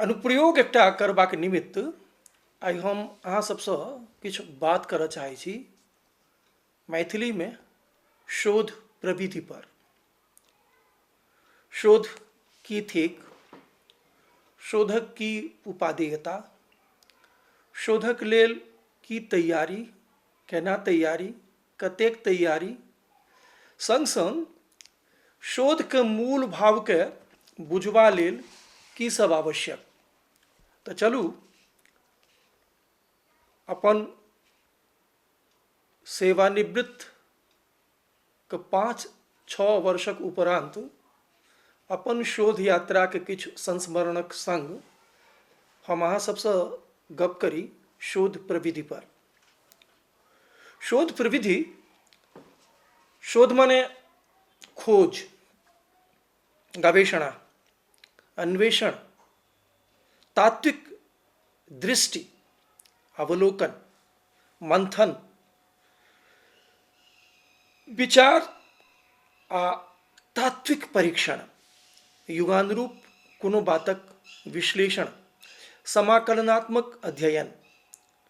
अनुप्रयोग एकटा करबाक निमित्त आइ हम अहाँ सभसँ किछु बात करऽ चाहै छी मैथिलीमे शोध प्रविधि पर शोध की थिक शोधक की उपादेयता शोधक लेल की तैयारी केना तैयारी कतेक तैयारी? संग-संग शोध के मूल भाव के बुझबा लेल की सब आवश्यक? त चलू अपन सेवानिवृत्त के पाँच छः वर्षक उपरान्त अपन शोध यात्रा के किछ संस्मरणक संग हम अहाँ सबसँ गप करी शोध प्रविधि पर। शोध प्रविधि शोध माने खोज गवेषणा अन्वेषण तात्विक दृष्टि अवलोकन मंथन विचार आ तात्विक परीक्षण युगानुरूप कोनो बातक विश्लेषण समाकलनात्मक अध्ययन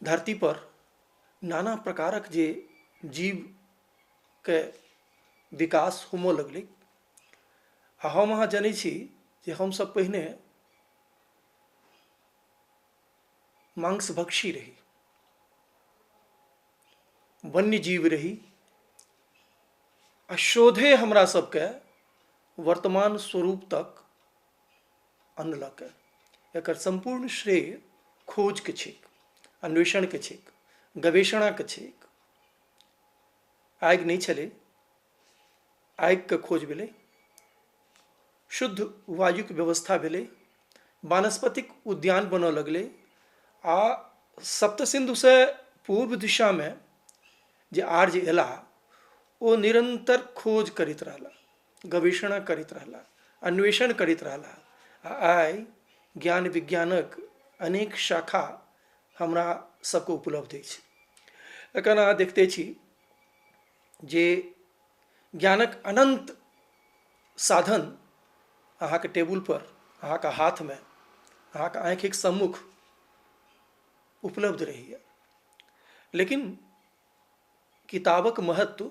धरती पर नाना प्रकारक जे जीवके विकास होमऽ लगलै आ हम अहाँ जनै छी जे हमसब पहिने माँस भक्षी रही वन्य जीव रही आ शोधे हमरा सबके वर्तमान स्वरूप तक अनलक एकर सम्पूर्ण श्रेय खोजके छैक अन्वेषणके छैक गवेषणाके छैक आगि नहि छलै आगिके खोज भेलै शुद्ध वायुके व्यवस्था भेलै वानस्पतिक उद्यान बनऽ लगलै आ सप्त सिन्धुसँ पूर्व दिशामे जे आर्य एला ओ निरन्तर खोज करैत रहला गवेषणा करैत रहला अन्वेषण करैत रहला आ आइ ज्ञान विज्ञानक अनेक शाखा हमरा सबके उपलब्ध अछि एखन अहाँ देखिते छी जे ज्ञानक अनन्त साधन अहाँके टेबुलपर अहाँके हाथमे अहाँके आँखिक सम्मुख उपलब्ध रहैए लेकिन किताबक महत्व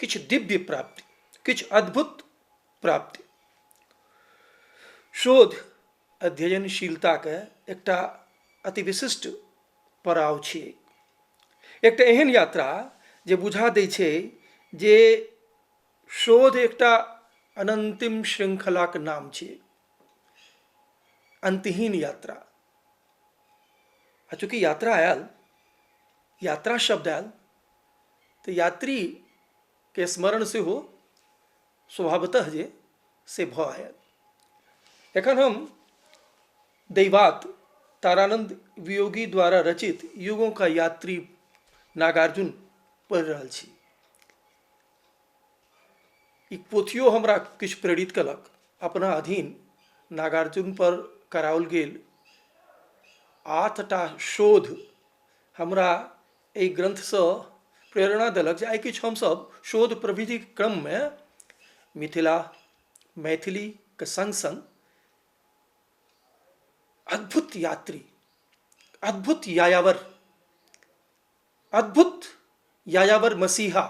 किछु दिव्य प्राप्ति किछु अद्भुत प्राप्ति शोध अध्ययनशीलताके एकटा अति विशिष्ट पड़ाव छी एकटा एहन यात्रा जे बुझा दै छै जे शोध एकटा अनन्तिम श्रृङ्खलाक नाम छी अन्तहीन यात्रा आ चूँकि यात्रा आयल यात्रा शब्द आयल तऽ यात्रीके स्मरण सेहो स्वभावतः जे से भऽ आयल एखन हम दैवात तारानन्द वियोगी द्वारा रचित युगों का यात्री नागार्जुन पढ़ि रहल छी ई पोथियो हमरा किछु प्रेरित कयलक अपना अधीन नागार्जुन पर कराओल गेल आठटा शोध हमरा एहि ग्रन्थसँ प्रेरणा देलक जे आइ किछु हमसभ शोध प्रविधिक क्रममे मिथिला मैथिलीके सङ्ग सङ्ग अद्भुत यात्री अद्भुत यायावर अद्भुत यायावर मसीहा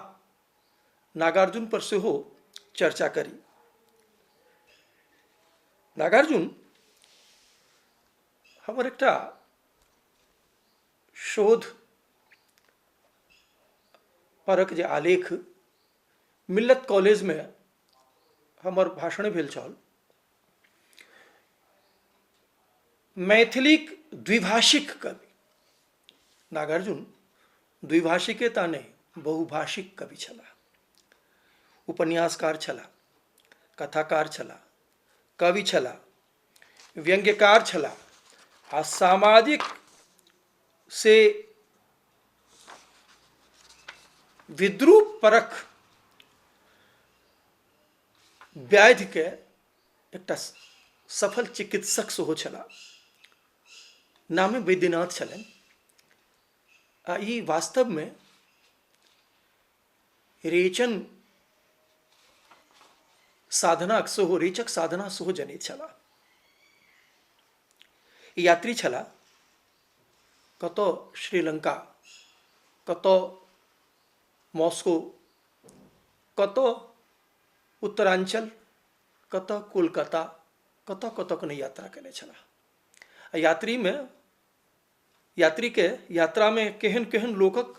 नागार्जुन पर सेहो चर्चा करी नागार्जुन हमर एकटा शोध परक जे आलेख मिल्लत कॉलेजमे हमर भाषण भेल छल मैथिलीक द्विभाषिक कवि नागार्जुन द्विभाषिके ता नहि बहुभाषिक कवि छलाह उपन्यासकार छलाह कथाकार छलाह कवि छलाह व्यंग्यकार छलाह आ सामाजिक से विद्रूप परक व्याधिके एकटा सफल चिकित्सक सेहो छलाह नामे वैद्यनाथ छलनि आ ई वास्तवमे रेचन साधनाक सेहो रेचक साधना सेहो जनैत छलाह ई यात्री छलाह कतऽ श्रीलंका कतऽ मॉस्को कतऽ उत्तराञ्चल कतऽ कोलकाता कतऽ कतऽ के नहि यात्रा कयने छलाह आ यात्रीमे यात्रीके यात्रामे केहन केहन लोकक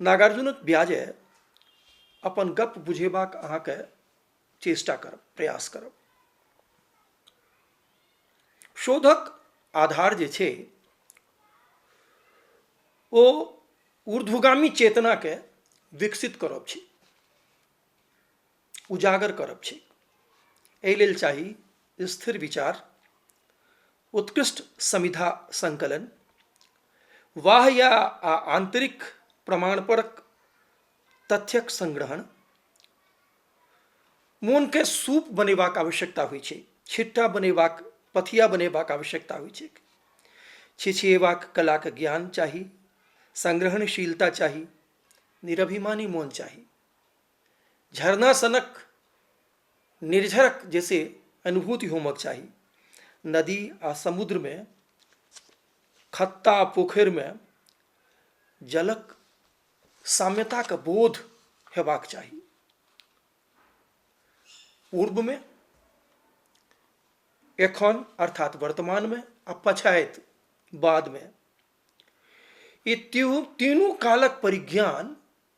नागार्जुनक ब्याजे अपन गप बुझेबाक अहाँके चेष्टा करब प्रयास करब शोधक आधार जे छै ओ ऊर्ध्वगामी चेतनाके विकसित करब छै उजागर करब छी एहि लेल चाही स्थिर विचार उत्कृष्ट समिधा संकलन वाह या आ आंतरिक प्रमाणपरक तथ्यक संग्रहण मोनके सूप बनेबाक आवश्यकता होइ छै छिट्टा बनेबाक पथिया बनेबाक आवश्यकता होइ छै छिछिएबाक कलाक ज्ञान चाही संग्रहणशीलता चाही निरभिमानी मोन चाही झरना सनक निर्झरक जैसे अनुभूति होमक चाही नदी आ समुद्रमे खत्ता आ पोखरिमे जलक साम्यताके बोध हेबाक चाही पूर्वमे एखन अर्थात वर्तमानमे आ पछाइत बादमे ई तीनू कालक परिज्ञान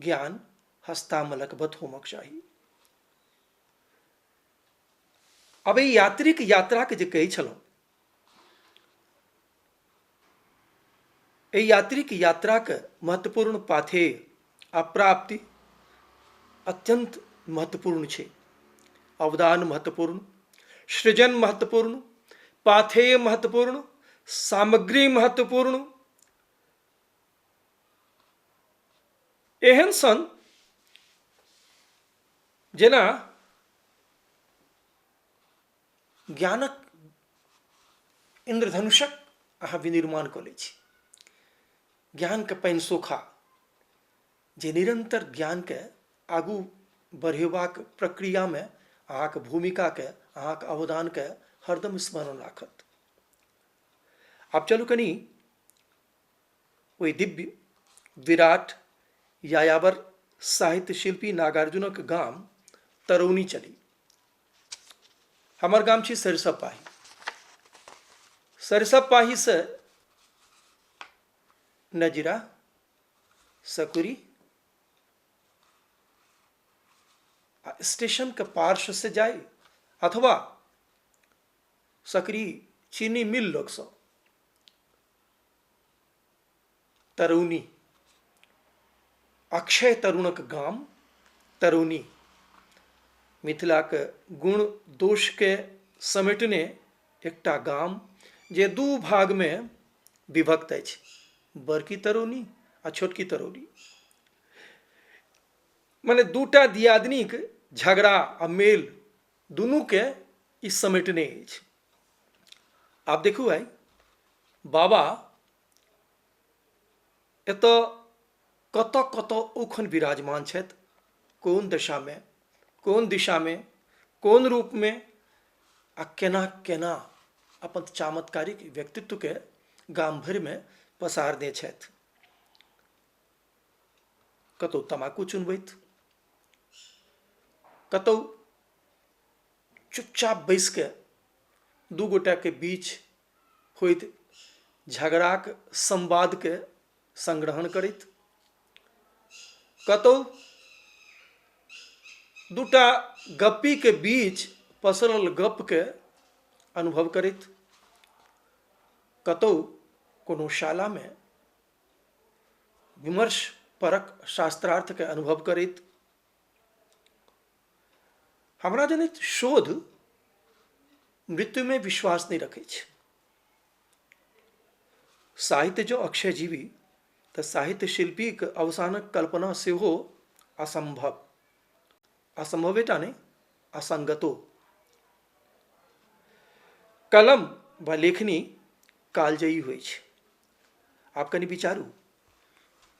ज्ञान हस्तामलकवत होमक चाही अब एहि यात्रीक यात्राके जे कहै छलहुँ एहि यात्रीक यात्राके महत्वपूर्ण पाथेय आ प्राप्ति अत्यन्त महत्वपूर्ण छै अवदान महत्वपूर्ण सृजन महत्वपूर्ण पाथेय महत्वपूर्ण सामग्री महत्वपूर्ण एहन सन जेना ज्ञानक इन्द्रधनुषक अहाँ विनिर्माण कऽ लै छी ज्ञानके पानि सोखा जे निरन्तर ज्ञानके आगू बढ़ेबाक प्रक्रियामे अहाँके भूमिकाके अहाँके अवदानके हरदम स्मरण राखत आब चलू कनी ओहि दिव्य विराट यायावर साहित्य शिल्पी नागार्जुनक गाम तरौनी चली हमर गाम छी सरिसब पाही सरिसब पाहीसँ नजीरा सकुरी आ स्टेशनके पार्श्वसँ जाइ अथवा सकरी चीनी मिल लगसँ तरुणी अक्षय तरुणक गाम तरुणी मिथिलाक गुण दोषके समेटने एकटा गाम जे दू भागमे विभक्त अछि बड़की तरुणी आ छोटकी तरुणी मने दूटा दियादनीक झगड़ा आ मेल दुनूके ई समेटने अछि आब देखू आइ बाबा एतऽ कतऽ कतऽ ओखन विराजमान छथि कोन दशामे कोन दिशामे कोन रूपमे आ केना केना अपन चमत्कारिक व्यक्तित्वके गाम भरिमे पसारने छथि कतहु तमाकू चुनबैत कतहु चुपचाप बैस कऽ दू गोटाके बीच होइत झगड़ाक संवादके संग्रहण करैत कतहु दूटा गप्पीके बीच पसरल गपके अनुभव करैत कतहु कोनो शालामे विमर्श परक शास्त्रार्थके अनुभव करैत हमरा जनैत शोध मृत्युमे विश्वास नहि रखै छै साहित्य जो अक्षय जीवी तऽ साहित्य शिल्पीक अवसानक कल्पना सेहो असम्भव असम्भवेटा नहि असङ्गतो कलम वा लेखनी कालजयी होइ छै आब कनि विचारू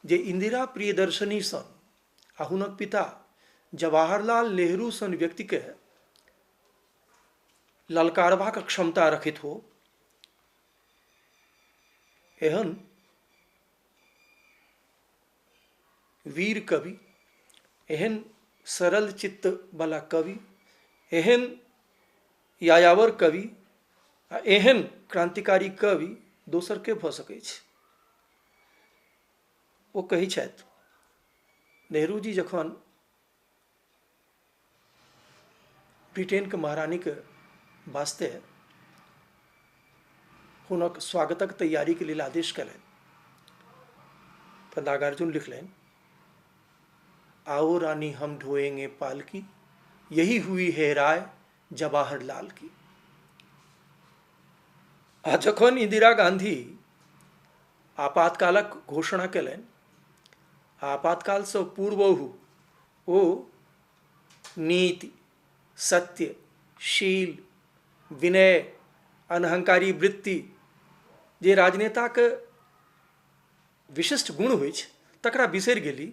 जे इन्दिरा प्रियदर्शनी सन आ हुनक पिता जवाहरलाल नेहरू सन व्यक्तिके ललकारबाक क्षमता रखित हो एहन वीर कवि एहन सरल चित्तवला कवि एहन यायावर कवि आ एहन क्रान्तिकारी कवि दोसर के भऽ सकैत छै ओ कहै छथि नेहरूजी जखन ब्रिटेनके महारानीके वास्ते हुनक स्वागतक तैयारीके लेल आदेश कयलनि तऽ नागार्जुन लिखलनि आओ रानी हम ढोएंगे पालकी यही हुई है राय जवाहर लाल की आ जखन इंदिरा गांधी आपातकालक घोषणा कयलनि आ आपातकालसँ पूर्वहु ओ नीति सत्य शील विनय अनहंकारी वृत्ति जे राजनेताक विशिष्ट गुण होइ छै तकरा बिसरि गेली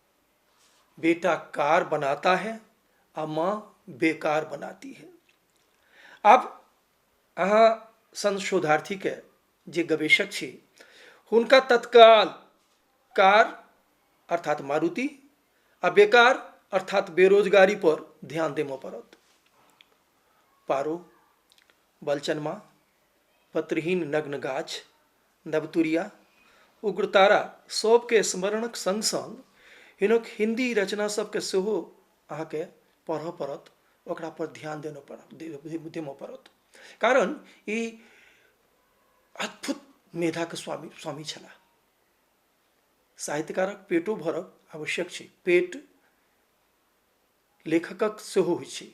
बेटा कार बनाता है आ माँ बेकार बनाती है आब अहाँ सन शोधार्थीके जे गवेषक छी हुनका तत्काल कार अर्थात मारुति आ बेकार अर्थात बेरोजगारी पर ध्यान देमय पड़त पारो बलचनमा पत्रहीन नग्न गाछ नवतुरिया, उग्रतारा सभकेँ स्मरणक संग-संग हिनक हिन्दी रचनासभकेँ सेहो अहाँकेँ पढ़ऽ पड़त, ओकरा पर ध्यान देनऽ पड़त, देमऽ पड़त। कारण ई अद्भुत मेधाक स्वामी स्वामी छलाह। साहित्यकारक पेटो भरब आवश्यक छै। पेट लेखकक सेहो होइ छै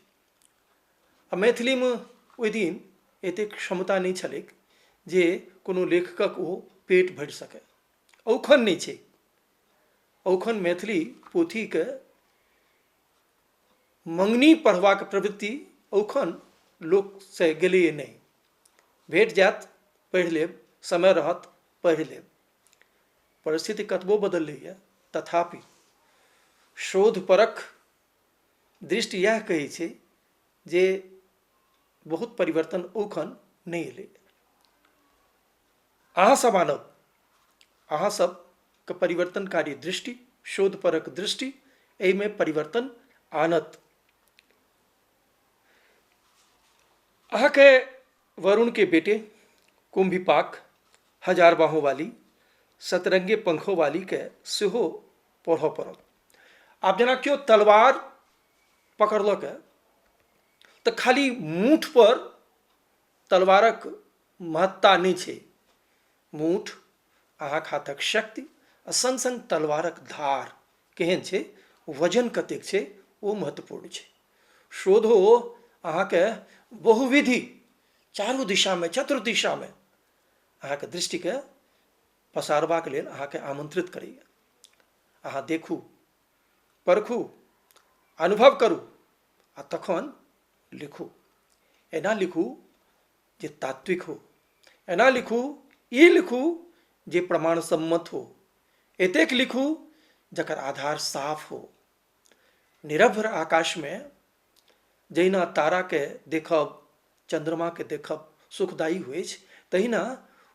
आ मैथिलीमे ओहि दिन एतेक क्षमता नहि छलैक जे कोनो लेखकक ओ पेट भरि सकय अखन नहि छै अखन मैथिली पोथीके मँगनी पढ़बाक प्रवृति अखन लोकसँ गेलैया नहि भेट जायत पढ़ि लेब समय रहत पढ़ि लेब परिस्थिति कतबो बदलैए तथापि शोधपरक दृष्टि इएह कहै छै जे बहुत परिवर्तन ओखन नहि एलै अहाँसभ मानव अहाँसभके परिवर्तनकारी दृष्टि शोधपरक दृष्टि एहिमे परिवर्तन आनत अहाँके वरुण के बेटे कुम्भिपाक हजार बाहों वाली सतरंगे पंखो वाली के सेहो पढ़ऽ पड़ल आब जेना केओ तलवार पकड़लक तऽ खाली मूठ पर तलवारक महत्ता नहि छै मूठ, अहाँक हाथक शक्ति आ संग-संग तलवारक धार केहेन छै, वजन कतेक छै, ओ महत्वपूर्ण छै। शोधो अहाँकेँ बहुविध, चारू दिशामे, चतुर्दिशामे, अहाँक दृष्टिकेँ पसारबाक लेल अहाँकेँ आमंत्रित करैए। अहाँ देखू, परखू, अनुभव करू आ तखन लिखू। एना लिखू, जे तात्विक हो एना लिखू ई लिखू जे प्रमाण सम्मत हो एतेक लिखू जकर आधार साफ हो निरभ्र आकाशमे जहिना ताराके देखब चन्द्रमाके देखब सुखदायी होइ छै तहिना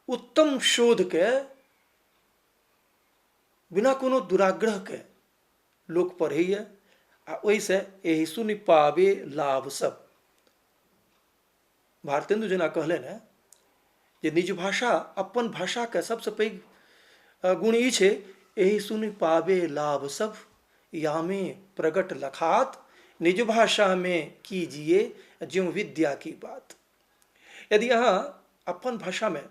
उत्तम शोधके बिना कोनो दुराग्रहके लोक पढ़ैए आ ओहिसँ एहि सुनि पाबे लाभ सब भारतेंदु जेना कहलनि हेँ जे निज भाषा अपन भाषाके सभसँ पैघ गुण ई छै एहि सुनि पाबे लाभ सभ यामे प्रगट लखात निज भाषामे कीजिए ज्यों विद्या की बात यदि अहाँ अपन भाषामे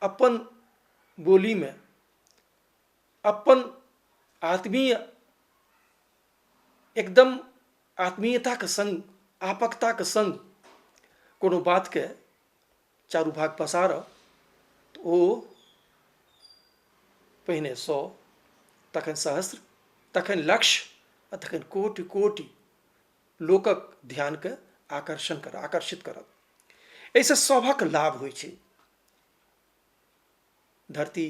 अपन बोलीमे अपन आत्मीय एकदम आत्मीयताक सङ्ग आपकताक सङ्ग कोनो बातके चारू भाग पसारऽ तऽ ओ पहिने सए तखन सहस्र तखन लक्ष्य आ तखन कोटि कोटि लोकक ध्यानके आकर्षण करऽ आकर्षित करत एहिसँ सभक लाभ होइ छै धरती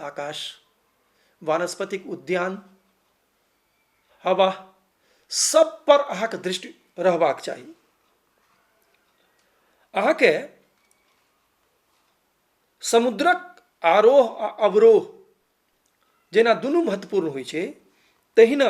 आकाश वानस्पतिक उद्यान हवा सब पर अहाँक दृष्टि रहबाक चाही अहाँके समुद्रक आरोह आ अवरोह जेना दुनू महत्वपूर्ण होइ छै तहिना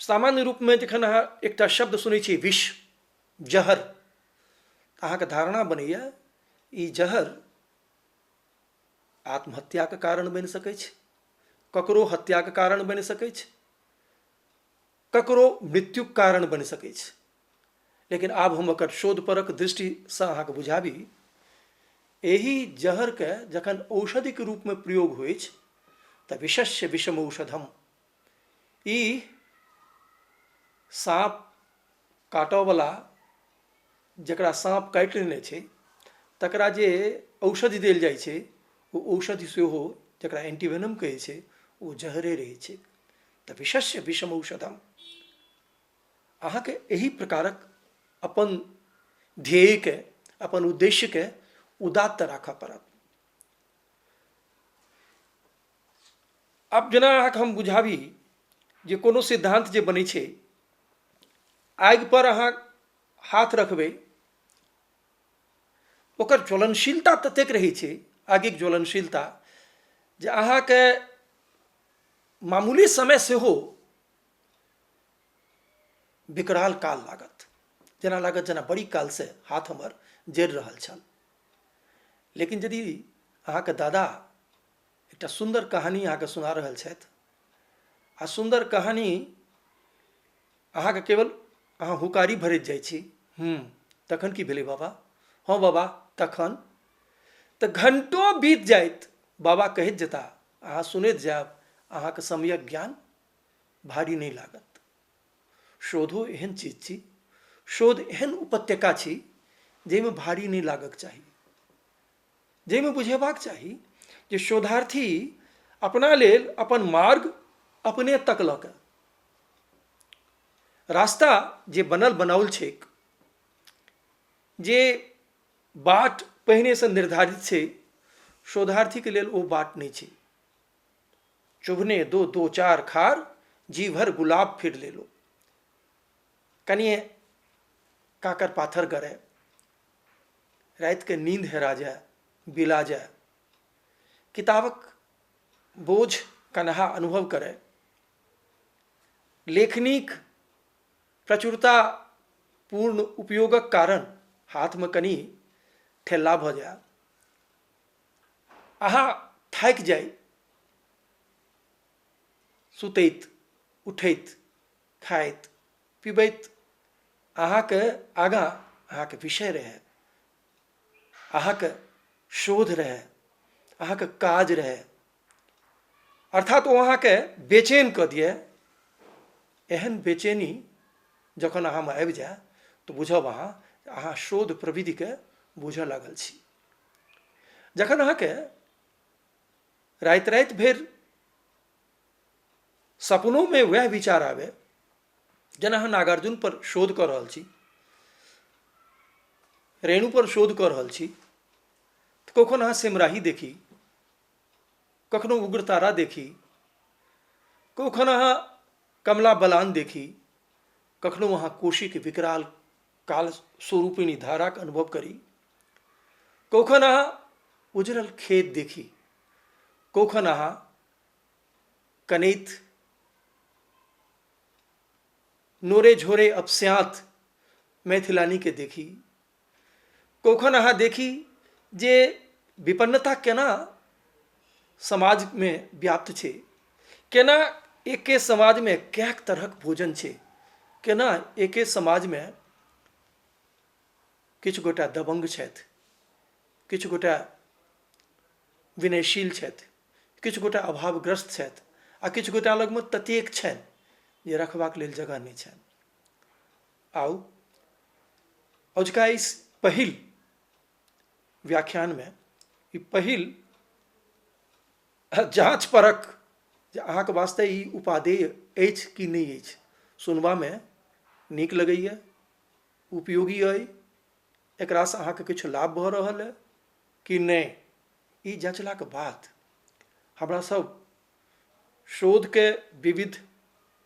सामान्य रूपमे जखन अहाँ एकटा शब्द सुनै छियै विष जहर तऽ अहाँके धारणा बनैए ई जहर आत्महत्याके कारण बनि सकै छै ककरो हत्याके कारण बनि सकै छै ककरो मृत्युके कारण बनि सकै छै लेकिन आब हम ओकर शोधपरक दृष्टिसँ अहाँके बुझाबी एहि जहरके जखन औषधिक रूपमे प्रयोग होइत अछि तऽ विषस्य विषम औषधम ई साँप काटऽवला जकरा साँप काटि लेने छै तकरा जे औषधि देल जाइ छै ओ औषधि सेहो जकरा एन्टीवेनम कहै छै ओ जहरे रहै छै तऽ विशस्य विषम औषधम अहाँके एहि प्रकारक अपन ध्येयके अपन उद्देश्यके उदात्त राखऽ पड़त आब जेना अहाँके हम बुझाबी जे कोनो सिद्धान्त जे बनै छै आगिपर अहाँ हाथ रखबै ओकर ज्वलनशीलता ततेक रहै छै आगिक ज्वलनशीलता जे अहाँके मामूली समय सेहो विकराल काल लागत जेना लागत जेना बड़ी कालसँ हाथ हमर जरि रहल छल लेकिन यदि अहाँके दादा एकटा सुन्दर कहानी अहाँके सुना रहल छथि आओर सुन्दर कहानी अहाँके केवल अहाँ हुकारी भरैत जाइ छी हूँ तखन कि भेलै बाबा हँ बाबा तखन तऽ घण्टो बीत जाइत बाबा कहैत जेता अहाँ सुनैत जायब अहाँके समयक ज्ञान भारी नहि लागत शोधो एहन चीज छी शोध एहन उपत्यका छी जाहिमे भारी नहि लागक चाही जाहिमे बुझेबाक चाही जे शोधार्थी अपना लेल अपन मार्ग अपने तकलक रास्ता जे बनल बनाओल छैक जे बाट पहिनेसँ निर्धारित छै शोधार्थीके लेल ओ बाट नहि छै चुभने दो दो चार खार जी भर गुलाब फिर ले लो कनिए काकर पाथर गड़े रातिके नींद हेरा जाए बिला जाए किताबक बोझ कन्हा अनुभव करए लेखनीक प्रचुरता पूर्ण उपयोगक कारण हाथमे कनि ठेला भऽ जाए अहाँ थाकि जाइ सुतैत उठैत खाइत पिबैत अहाँके आगाँ अहाँके विषय रहै अहाँके शोध रहै अहाँके काज रहै अर्थात ओ अहाँके बेचैन कऽ दिए एहन बेचैनी जखन अहाँमे आबि जाए तऽ बुझब अहाँ अहाँ शोध प्रविधिके बुझऽ लागल छी जखन अहाँके राति राति भरि सपनोमे वएह विचार आबए जेना हम नागार्जुन पर शोध कऽ रहल छी रेणु पर शोध कऽ रहल छी तऽ कखन अहाँ सिमराही देखी कखनो उग्रतारा देखी कखन अहाँ कमला बलान देखी कखनो अहाँ कोशीके विकराल काल स्वरूपिणी धाराक अनुभव करी कखन अहाँ उजरल खेत देखी कखन अहाँ कनैत नोरे झोरे अपस्यात मैथिलानीके देखी कखन अहाँ देखी जे विपन्नता केना समाजमे व्याप्त छै केना एके समाजमे कैक तरहक भोजन छै केना एके समाजमे किछु गोटा दबङ्ग छथि किछु गोटा विनयशील छथि किछु गोटा अभावग्रस्त छथि आ किछु गोटा लगमे ततेक छनि जे रखबाक लेल जगह नहि छनि आउ अजुका ई पहिल व्याख्यानमे ई पहिल जाँच परक जे अहाँके वास्ते ई उपादेय अछि कि नहि अछि सुनबामे नीक लगैए उपयोगी अइ एकरासँ अहाँके किछु लाभ भऽ रहल अइ कि नहि ई जँचलाके बाद हमरा सभ शोधके विविध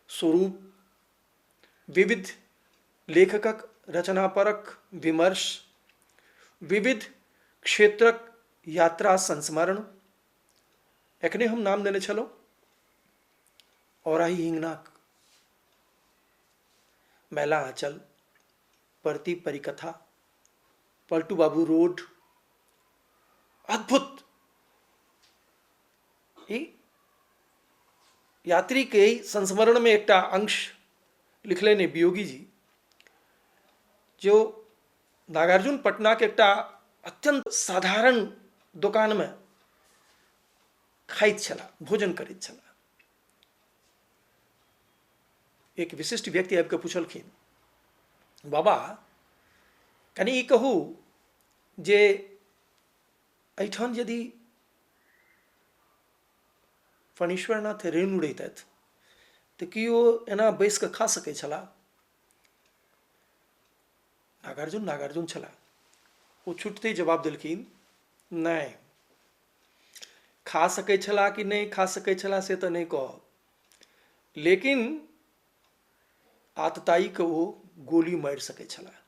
स्वरूप विविध लेखकक रचना परक विमर्श विविध क्षेत्रक यात्रा संस्मरण एखने हम नाम देने छलहुँ औराही हिङ्गनाक मैला आँचल परती परिकथा पलटू बाबू रोड अद्भुत ई यात्री के संस्मरण में एकटा अंश लिखले ने वियोगी जी जो नागार्जुन पटना के एकटा अत्यंत साधारण दुकान में खाइत छला भोजन करैत छला एक विशिष्ट व्यक्ति आबिके पुछलखिन बाबा कनि ई कहू जे एहिठाम यदि फणीश्वरनाथ रेणु रहितथि तऽ की ओ एना बैसि कऽ खा सकैत छलाह नागार्जुन नागार्जुन छलाह ओ छुटते जवाब देलखिन नहि खा सकै छलाह कि नहि खा सकै छलाह से तऽ नहि कहब लेकिन आतताइके ओ गोली मारि सकै छलाह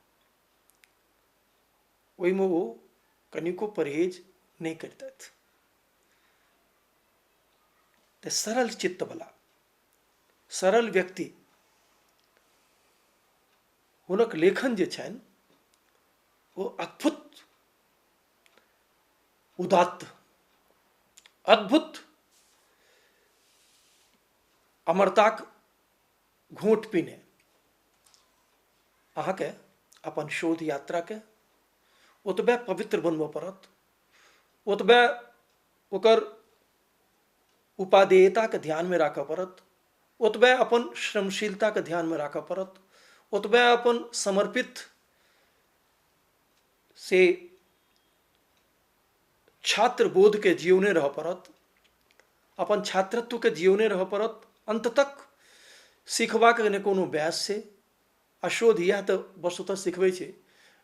ओहिमे ओ कनिको परहेज नहि करितथि तऽ सरल चित्तवला सरल व्यक्ति हुनक लेखन जे छनि ओ अद्भुत उदात्त अद्भुत अमरताक घोट पीने अहाँके अपन शोध यात्राके ओतबे पवित्र बनबऽ पड़त ओतबे ओकर उपादेयताके ध्यानमे राखऽ पड़त ओतबे अपन श्रमशीलताके ध्यानमे राखऽ पड़त ओतबे अपन समर्पित से छात्र बोधके जियौने रहऽ पड़त अपन छात्रत्वके जियौने रहऽ पड़त अन्त तक सिखबाक ने कोनो बयस छै आ शोध इएह तऽ वस्तुतः सिखबै छै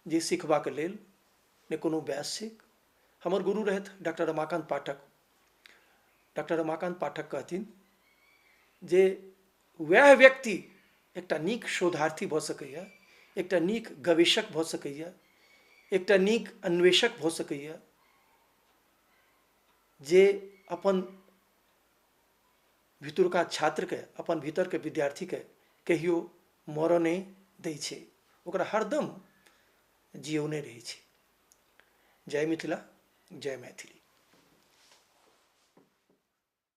जे सिखबाक लेल ने कोनो बयस छै हमर गुरु रहथि डॉक्टर रमाकान्त पाठक डॉक्टर रमाकान्त पाठक कहथिन जे वएह व्यक्ति एकटा नीक शोधार्थी भऽ सकैए एकटा नीक गवेषक भऽ सकैए एकटा नीक अन्वेषक भऽ सकैए जे अपन भितुरका छात्रके अपन भीतरके विद्यार्थीके कहियो मरऽ नहि दै छै ओकरा हरदम जियौने रहै छै जय मिथिला जय मैथिली